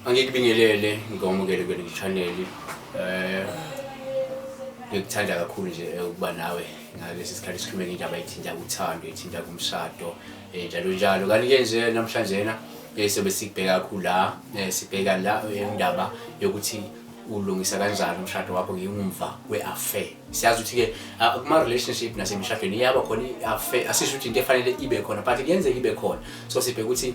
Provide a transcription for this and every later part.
Angikubingelele ngikwamukele kule channel eh ngikuthanda kakhulu nje eh, ukuba nawe ngalesi sikhathi sikhulume ngendaba ethinta uthando ethinta kumshado eh, njalo njalo kanti ke nje namhlanje na eh, sobe sikubheka kakhulu la sibheka la indaba yokuthi ulungisa kanjani umshado wakho ngingumva kwe-affair siyazi ukuthi-ke ah, kuma-relationship nasemishadweni iyaba khona i-affair asisho ukuthi into efanele ibe khona but kuyenzeka ibe khona so sibheke ukuthi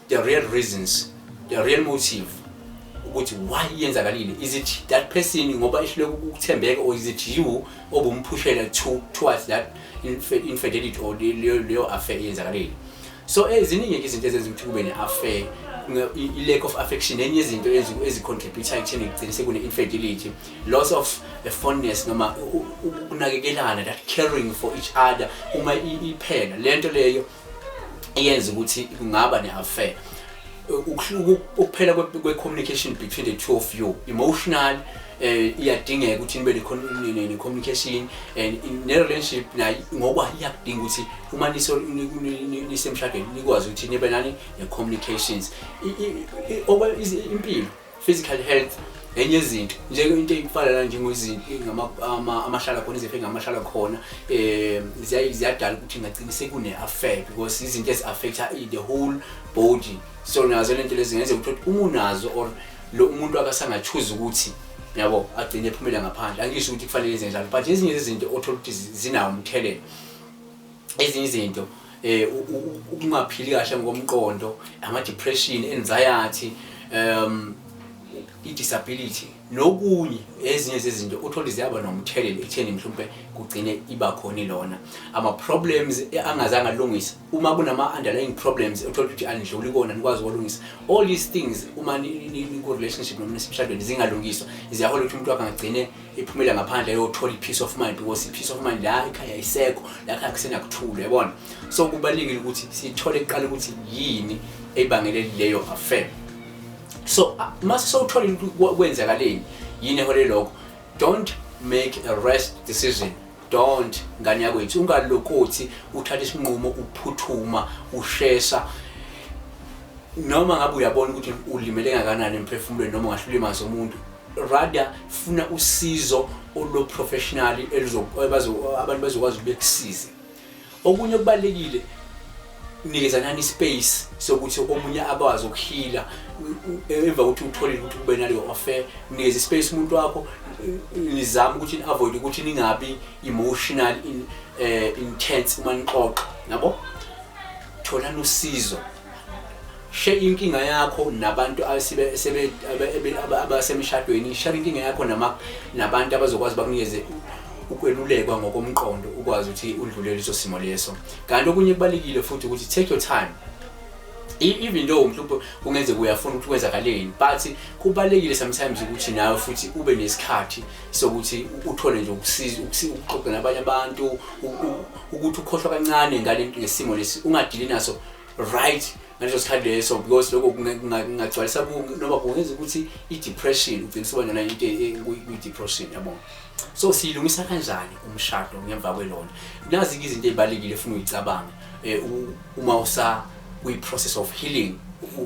the real reasons the real motive ukuthi why yenzakalile is it that person ngoba ehlule ukuthembeka or is it you obumphushela to towards that infidelity or leyo leyo affair yenzakalile so eziningi ke izinto ezenza ukuthi kube ne-affair i-lack of affection enye izinto ezicontributha ekutheni kugcine sekune-infidelity loss of a fondness noma ukunakekelana that caring for each other uma iphela le nto leyo eyenza ukuthi kungaba ne-affair ukuphela kwe-communication between the two of you emotional eh iyadingeka ukuthi nibe ne communication and ne relationship nayo ngoba iyakudinga ukuthi uma niso nisemshadweni nikwazi ukuthi nibe nani ne communications impilo physical health enye izinto njeke into eyifana la njengozinto amahlala khona izifo engamahlala khona um ziyadala ukuthi ngagcina sekune-affect because izinto ezi-affecta the whole body so nazo le nto lezi ngenzeka ukuthi uma unazo or lo umuntu akasangachuza ukuthi yabo agcine ephumela ngaphandle angisho ukuthi kufanele izenjalo but ezinye zezinto othola ukuthi zinawo umthelela ezinye izinto eh ukungaphili kahle ngokomqondo ama depression anxiety um i disability nokunye ezinye zezinto uthola iziyaba nomthelelo ekutheni mhlawumbe kugcine iba khona lona ama problems angazange alungise uma kunama underlying problems uthola ukuthi anidluli kona nikwazi ukulungisa all these things uma ni ku relationship noma nisemshadweni zingalungiswa ziyahola ukuthi umuntu akangagcine iphumele ngaphandle yothola i-peace of mind because i-peace of mind la ikhaya isekho lakhaya kusenakuthula yabona so kubalulekile ukuthi sithole kuqala ukuthi yini ebangele leyo affair so ah, mase sowuthola kwenzakaleni yini ehole lokho don't make a rest decision don't ngane yakwethu ungalokothi uthatha isinqumo uphuthuma ushesha noma ngabe uyabona ukuthi ulimele ngakanani emphefumulweni noma ungahlulima zomuntu rather funa usizo olo professional abantu bazokwazi ukukusiza okunye okubalekile nikezanani space sokuthi omunye akwazi ukuhila emva ukuthi uthole ukuthi kube naleyo offer nikeze space umuntu wakho nizama ukuthi ni avoid ukuthi ningabi emotional in uh, intense uma nixoxa nabo thola nosizo share inkinga yakho nabantu abasemshadweni share inkinga yakho nama nabantu abazokwazi bakunikeze ukwelulekwa ngokomqondo ukwazi ukuthi udlulele leso simo leso kanti okunye kubalekile futhi ukuthi take your time e-, even though mhlawumbe kungenzeka uyafuna ukuthi kwenzakaleni but kubalekile sometimes ukuthi nawe futhi ube nesikhathi sokuthi uthole nje ukusiza ukuxoxa nabanye abantu ukuthi ukhohlwa kancane ngale ngesimo lesi ungadili naso right ngaleso sikhathi leso because lokho kungagcwalisa noma kungenza ukuthi i-depression ugcina usuba nona into e, e, kwi-depression yabo so siyilungisa kanjani umshado ngemva kwelona nazi-ke izinto ey'balulekile funa uyicabanga um uma usa kwi-process of healing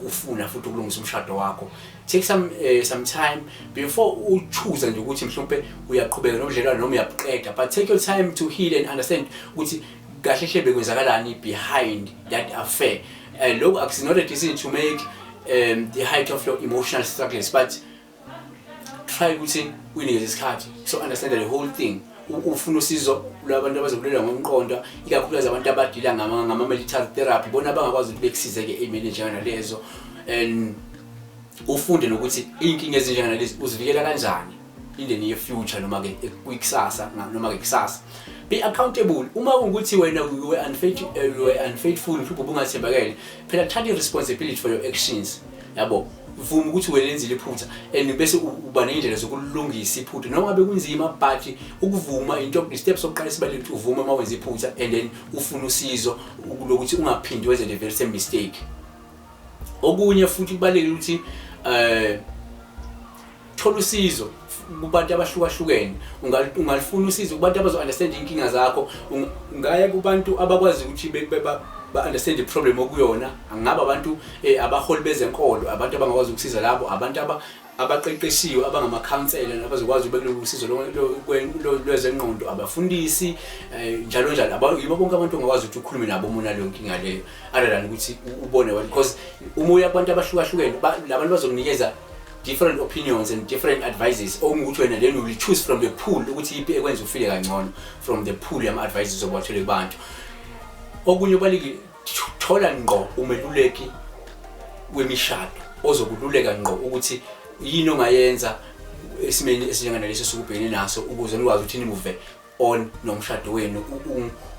ufuna futhi ukulungisa umshado wakho take some uh, some time before u choose nje ukuthi mhlawumbe uyaqhubeka nobudlelwane noma uyabuqeda but take your time to heal and understand ukuthi kahle hle bekwenzakalani behind that affair uh, eh, loku it's not a decision to make um, the height of your emotional struggles but try ukuthi uyinikeze isikhathi so understand the whole thing ufuna usizo lwabantu abazokulela ngomqondo ikakhulukazi abantu abadila ngama-military therapy bona abangakwazi ukuthi bekusizeke ey'meni njenganalezo and ufunde nokuthi iy'nkinga ezinjenganalezi uzivikela kanjani in the near future noma ke kwikusasa noma ke kusasa be accountable uma ukuthi wena you were unfaithful eh, you were unfaithful mhlawumbe ubungathembakele phela thatha responsibility for your actions yabo vuma ukuthi welenzile iphutha and bese uba nendlela zokulungisa iphutha noma ngabe kunzima but ukuvuma into step sokuqala sibalule ukuthi uvume uma wenza iphutha and then ufuna usizo lokuthi ungaphindi wenze the very same mistake okunye futhi kubalekile ukuthi eh thola usizo kubantu abahlukahlukene ungalifuna usizo kubantu abazo-understand iy'nkinga zakho ungaya kubantu abakwazi ukuthi ba-understand i-problem okuyona angaba abantu um abaholi bezenkolo abantu abangakwazi ukusiza labo abantu abaqeqeshiwe abangama-counsela abazokwazi ubekulolu usizo lwezengqondo abafundisi um njalo njalo yibo bonke abantu ongakwazi ukuthi ukhulume nabo uma unaleyo nkinga leyo other than ukuthi ubone wena because uma uya kubantu abahlukahlukene labantu bazokunikeza different opinions and different advices okungukuthi wena then will choose from the pool ukuthi ipi ekwenza ufile kangcono from the pool yama advices obathole kubantu okunye obaliki thola ngqo umeluleki wemishado ozokululeka ngqo ukuthi yini ongayenza esimeni esinjenganalesi sokubhekene naso ukuze nikwazi ukuthi nimuve on nomshado wenu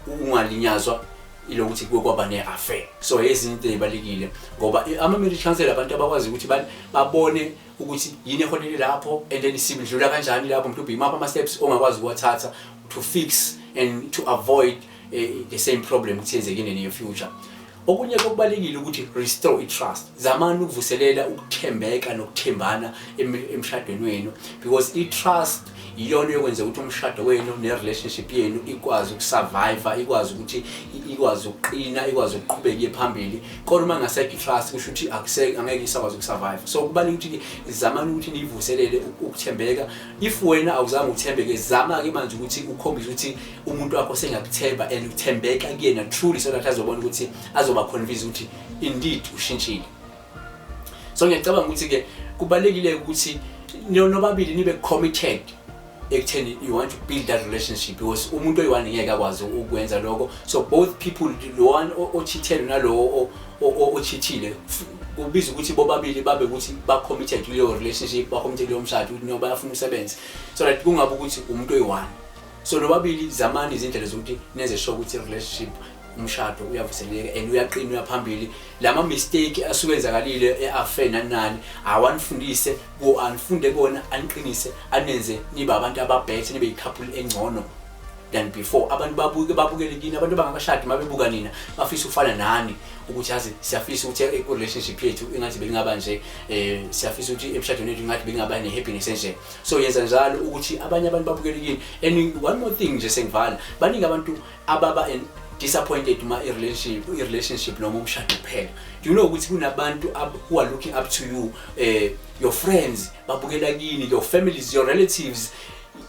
ungalinyazwa ilokuthi kuke kwaba ne-affair so ezinye into ezibalulekile ngoba ama-marriage counsel abantu abakwazi ukuthi babone ukuthi yini eholele lapho and then sibidlula kanjani lapho mhlawumbe imaphi ama-steps ongakwazi ukuwathatha to fix and to avoid uh, the same problem ukuthi yenzekile in your future Okunye okubalekile ukuthi restore i-trust. Zamani ukuvuselela ukuthembeka nokuthembana emshadweni wenu because i-trust iyona yokwenza ukuthi umshado wenu ne-relationship yenu ikwazi ukusurvive ikwazi ukuthi ikwazi ukuqina ikwazi ukuqhubeka iye phambili kodwa uma ngasekho i-trust kusho ukuthi angeke isakwazi ukusurvive so kubaluleke ukuthi zamani ukuthi niyivuselele ukuthembeka if wena awuzange uthembeke zama-ke manje ukuthi ukhombise ukuthi umuntu wakho sengakuthemba and uthembeka kuyena truly so that azobona ukuthi azoba convince ukuthi indeed ushintshile so ngiyacabanga ukuthi ke kubalekile ukuthi nobabili nibe committed ekutheni you want to build that relationship because umuntu oyi-one ngeke akwazi ukwenza lokho so both people lo one ochithele nalowo ochithile kubiza ukuthi bobabili babe ukuthi ba-committed kuleyo relationship ba-committed kuleyo mshado ukuthi noma bayafuna umsebenzi so that kungabe ukuthi umuntu oyi-one so lobabili zamani izindlela zokuthi nenze sure ukuthi relationship umshado uyavuseleka and uyaqina uyaphambili lama mistake asuke enzakalile eaffair nanani awanifundise ku anifunde kona aniqinise anenze nibe abantu ababhethe nibe icouple engcono than before abantu babuke babukele kini abantu bangakashadi mabebuka nina bafisa ufana nani ukuthi azi siyafisa ukuthi i relationship yethu ingathi bengaba nje eh siyafisa ukuthi emshadweni wethu ingathi bengaba ne happiness nje so yenza njalo ukuthi abanye abantu babukele kini and one more thing nje sengivala baningi abantu ababa and disappointed uma i-relationship i-relationship noma umshado kuphela you know ukuthi kunabantu who are looking up to you eh your friends babukela kini your families your relatives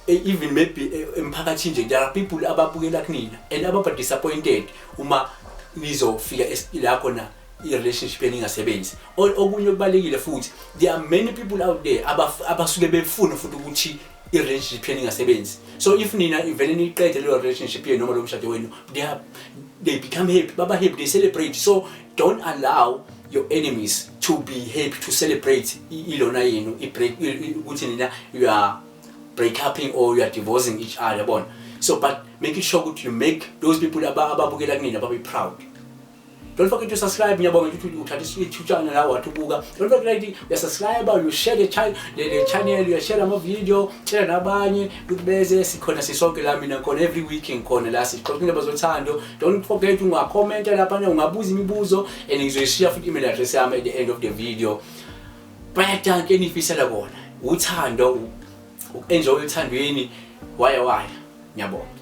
e, even maybe e, emphakathini nje there are people ababukela kunina and ababa disappointed uma nizofika la khona i-relationship eningasebenzi okunye okubalekile futhi there are many people out there abasuke befuna futhi ukuthi i-relationship yenu ingasebenzi so if nina ivele niyiqede leyo relationship yenu noma lo mshado wenu they, are, they become happy baba happy they celebrate so don't allow your enemies to be happy to celebrate ilona yenu ukuthi nina you are break uping or you are divorcing each other bona so but making sure ukuthi you make those people ababukela kunina babe proud Don't forget to subscribe ngiyabonga ukuthi uthatha isithutshana la wathi ubuka. Don't forget ukuthi uyasubscribe, you share the channel, the channel, you share ama video, tshela nabanye ukuthi beze sikhona sisonke la mina khona every week ngikhona la sixoxa indaba zothando. Don't forget unga comment lapha ungabuza imibuzo and ngizoyishiya futhi email address yami at the end of the video. Bayadanke enifisela kona. Uthando ukenjoy uthandweni waya waya. Ngiyabonga.